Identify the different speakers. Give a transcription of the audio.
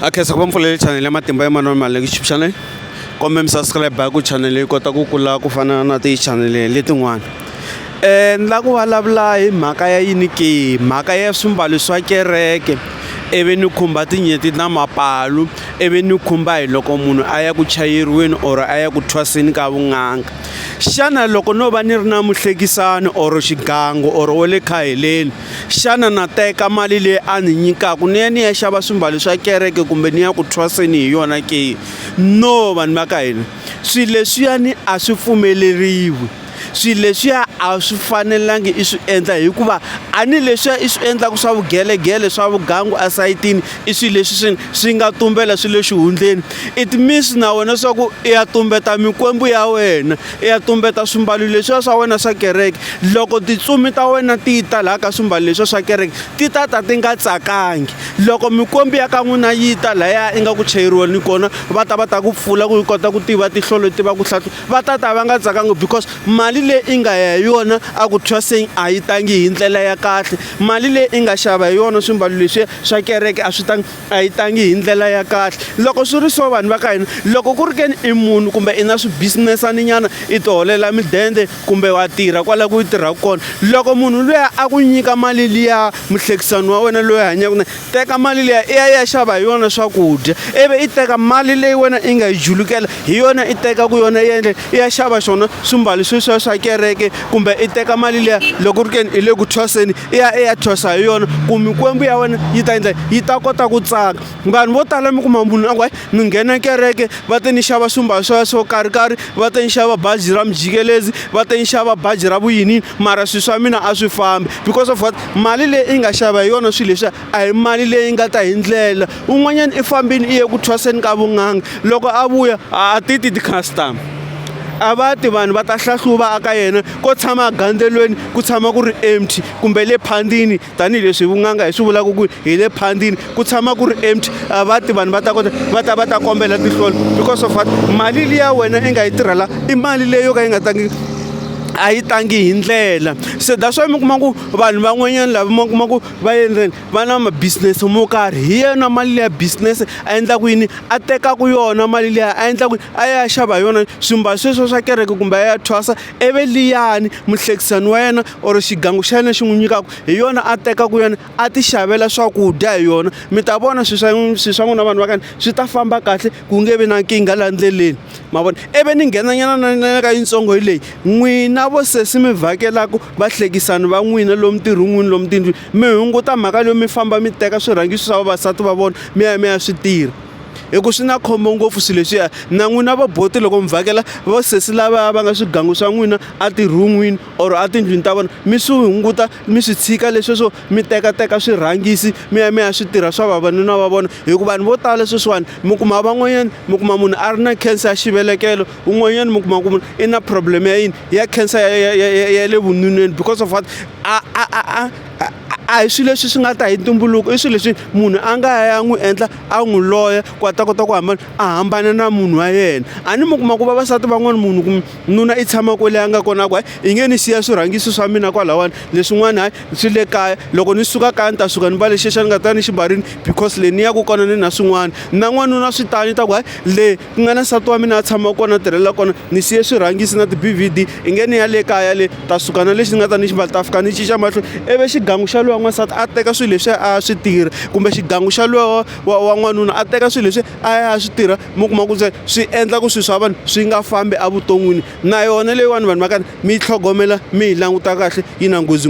Speaker 1: a khensa ku va mpfulele chanele ya matimba ya manana mali youtube channel kombe mi subscribe ku chanele yi kota ku kula ku fana na tichanele letin'wana um ni lava ku vulavula hi mhaka ya yini ke mhaka ya swimbalo swa kereke ivi ni khumba tinyeti na mapalu ivi ni khumba hi loko munhu a ya ku chayeriweni or a ya ku thwaseni ka vun'anga xana loko no va ni ri na muhlekisani or xigangu or wa le khaheleni Xana na teka mali leyi a ni nyikaka ni ya ni ya xava swimbalo swa kereke kumbe ni ya ku thwaseni hi yona ke no vanhu va ka hina swilo leswiyani a swi pfumeleriwi swilo leswiya a swi fanelangi i swi endla hikuva a ni leswiya i swi endlaka swa vugelegele swa vugangu esayitini i swilo leswi swi swi nga tumbela swi le xihundleni it means na wena swa ku i ya tumbeta mikwembu ya wena i ya tumbeta swimbalo leswiya swa wena swa kereke loko titsumi ta wena ti yi ta laha ka swimbalo leswiya swa kereke ti ta ta ti nga tsakangi loko mikwembu ya ka n'wina yi ta lahaya i nga ku chayeriwa ni kona va ta va ta ku pfula ku yi kota ku tiva tihlolo tiva ku hlahlu va ta ta va nga tsakangi because mali leyi i nga ya hi yona a ku thwaseng a yi tangi hi ndlela ya kahle mali leyi i nga xava hi yona swimbalo leswiya swa kereke a swi tangi a yi tangi hi ndlela ya kahle loko swi ri so vanhu va ka hina loko ku ri ke ni i munhu kumbe i na swibizinesani nyana i ti holela midende kumbe wa tirha kwala ku yi tirhaka kona loko munhu luya a ku nyika mali liya muhlekisani wa wena loyi hanyaka na teka mali liya i ya ya xava hi yona swakudya ivi i teka mali leyi wena i nga yi julukela hi yona i teka ku yona yendle i ya xava xona swimbalo sweswiya swa kereke kumbe i teka mali liya loko ku ri ke ni i le ku thwaseni i ya i ya thyosa hi yona ku mikwembu ya wena yi ta endla yi ta kota ku tsaka vanhu vo tala mi kuma munhu a ku hayi ni nghena kereke va te ni xava swimbalo swa swo karhikarhi va te ni xava bazi ra mijikelezi va te ni xava bazi ra vuyinini mara swilo swa mina a swi fambi because of what mali leyi i nga xava hi yona swilo leswiya a hi mali leyi nga ta hi ndlela un'wanyana i fambini i ye ku thwaseni ka vun'anga loko a vuya a ti ti ti-customer a va ti vanhu va ta hlahluva aka yena ko tshama gandzelweni ku tshama ku ri empty kumbe le phandini tanihileswi vun'anga hi swi vulaka ku hi le phandini ku tshama ku ri empty a va ti vanhu va ta kota va ta va ta kombela tihlolo because of what mali liya wena i nga yi tirhela i mali leyi yo ka yi nga tangi a yi tangi hi ndlela se that's why mi kuma ku vanhu van'wanyana lava mi kuma ku va endleni va na ma-business mo karhi hi yena mali leya business a endlaku yini a tekaku yona mali leya a endlaku a ya xava hi yona swimbalo sweswo swa kereke kumbe a ya thwasa ivi liyani muhlekisani wa yena or xigangu xa yena xi n'wi nyikaku hi yona a tekaku yona a ti xavela swakudya hi yona mi ta vona swi swa swi swa n'wina vanhu va kani swi ta famba kahle ku nge vi na nkingha laha ndleleni ma vona ivi ni nghenanyana na na ka yitsongo hi leyi n'wina vo sesi mi vhakelaku vahlekisani va n'wina lomu tirhun'wini lomu tindlwini mi hunguta mhaka leyo mi famba mi teka swirhangiso swa vavasati va vona mi ya mi ya swi tirha hi ku swi na khombo ngopfu swilo leswiya na n'wina va boti loko mi vhakela va sesi lava va nga swigangu swa n'wina etirhun'wini or etindlwini ta vona mi swi hunguta mi swi tshika lesweswo mi tekateka swirhangisi mi ya mi ya swi tirha swa vavanuna va vona hikuva vanhu vo tala sweswiwani mi kuma van'wanyana mi kuma munhu a ri na cancer ya xivelekelo un'wanyana mi kuma ku munhu i na problem ya yini ya cancer ya ya ya ya ya le vununeni because of what a a a a a- a hi swilo leswi swi nga ta hi ntumbuluko i swilo leswi munhu a nga ya n'wi endla a n'wi loya ku a ta kota ku hambana a hambana na munhu wa yena a ni mi kuma ku vavasati van'wana munhu kumbe nuna i tshama kwele a nga kona ku hayi i nge ni siya swirhangiso swa mina kwalawani leswin'wana hayi swi le kaya loko ni suka kaya ni ta suka ni mbale xexa ni nga ta ni ximbarini because le ni yaku kona ni na swin'wana na n'wanuna swi tani i ta ku hayi le ku nga na nsati wa mina a tshama kona a tirhela kona ni siye swirhangisi na ti-B_V_D i nge ni ya le kaya le ta suka na lexi ni nga ta ni xi mbala ta fika ni cinca mahlo ivi xigangu xa luya n'wansati a teka swilo leswi a swi tirha kumbe xigangu xa luya wa wa n'wanuna a teka swilo leswi a ya a swi tirha mi kuma ku se swi endla ku swilo swa vanhu swi nga fambi evuton'wini na yona leyiwani vanhu va ka ni mi yi tlhogomela mi yi languta kahle yi na nghozi.